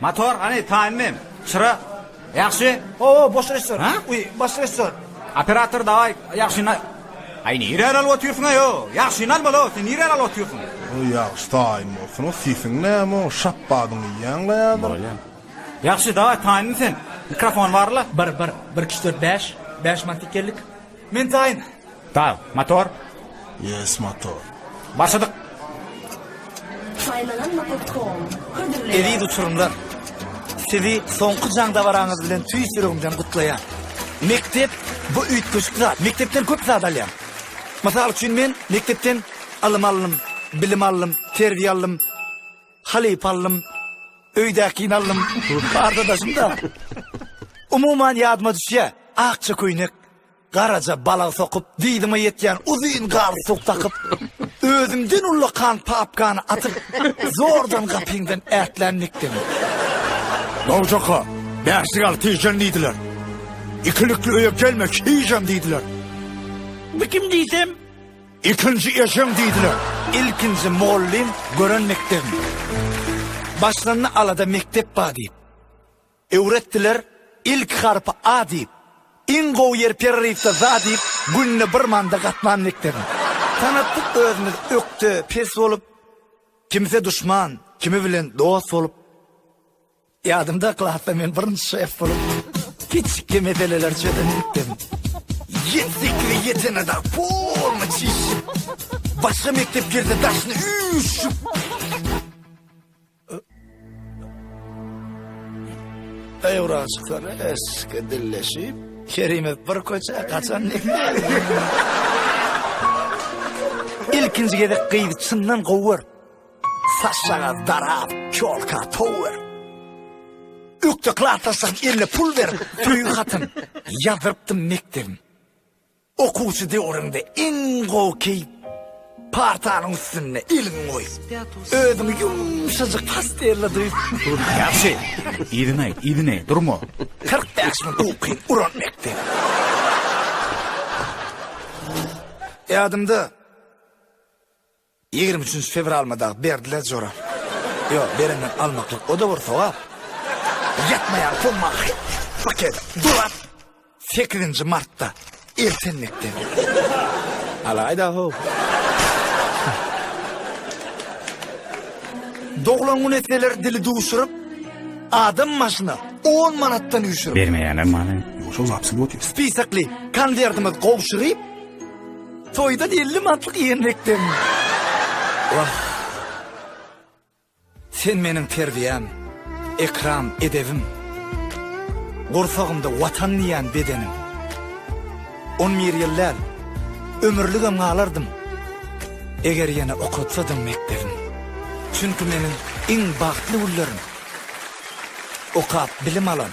Motor hany taýmy? Çyra. Ýagşy. O, boş reşor. Ha? Uy, boş reşor. Operator daýy, ýagşyny. Aý, nire alyp otyrsyň aýo? Ýagşyny al bolo, sen nire alyp otyrsyň? O ýagşy taýym bolsun, o sesiň näme o, şapbadyň ýaňla ýadyr. Bolýan. Ýagşy, daýy taýmy sen? Mikrofon barla. 1 1 1 2 4 5 5 mantik geldik. Men taýyn. Dag, motor. Yes, motor. Başladyk. Saýlanan nokot kom. Hödürleýär. Eziz uçurymlar! Sizi soňky jaň dabaraňyz bilen tüýs ýüregimden gutlaýan. Mekdep bu üýtgeşik zat. Mekdepden köp zat alýan. Mysal üçin men mekdepden ylym aldym, bilim aldym, terbiýe aldym. Halypa aldym. Öýdäkini aldym. Arkadaşym-da. Umuman ýadyma düşýä. Akja köýnek, garaja balag sokup, dyzyma ýetýän uzyn galstuk dakyp, özümden ullakan papkany atyp, zordan gapyňdan ätlän nikdim. Nowjaka, bäşlik al tijen diýdiler. Ikilikli öýe gelme, hijem diýdiler. Bu kim diýsem, Ikinji eşeň diýdiler. Ilkinji mugallym gören mekdebim. Başlanda alada mekdep ba diýip. Öwretdiler ilki harpy A diýip. Iň gowy ýer pereriwde za diýip, günde bir manda gatnan mekdebim. Tanatdyk özümiz ökde, pes bolup. Kimse duşman, kimi bilen dost bolup. Ýadymda klasda men birinji şef bolup kiçikki meseleleri çözenlikdim. Ýetdikli ýetenada polny çişip. Başga mekdep girdi daşyny üýşüp. Öwranşyklar eski dilleşip. Kerime bir köçä gaçan näme? Ilkinji gezek gyzy çyndan gowy görüp. Saçsaňyz darap, çolka tower. Ökde klasaşak eline pul ber, söýgi hatyn. Ýazdyrypdym mekdebim. Okuwçy döwrüňde iň gowy keýp partanyň üstünde eliň goý. Özüňi ýumşajyk pastelle duý. Ýagşy, yzyny aýt, yzyny, durma. 45 mün ukyň uran mekdep. Ýadymda. Ýigrimi üçünji fewralmy dagy berdiler jora. Ýo, berenden almaklyk, o-da bir sogap. Ýatmaýan pumma paket durap sekizinji martda eltendikde. Alaýda-how. Doglan gün etseler dili duşuryp, adam başyna on manatdan üýşürip. Bermeýäler many. Ýo, şol wapsy ýoty. Spisekli konwertimiz gowşuryp. Toýdan 50 mantlyk iýen bekdem. Wah. Sen meniň terbiýäm, ekram, edebim. Gursagymda watan diýen bedenim. 11 ýyl däl, ömürligem galardym. Eger ýene okatsadyň mekdebim. Çünki meniň iň bagtly günlerim. Okap bilim alan.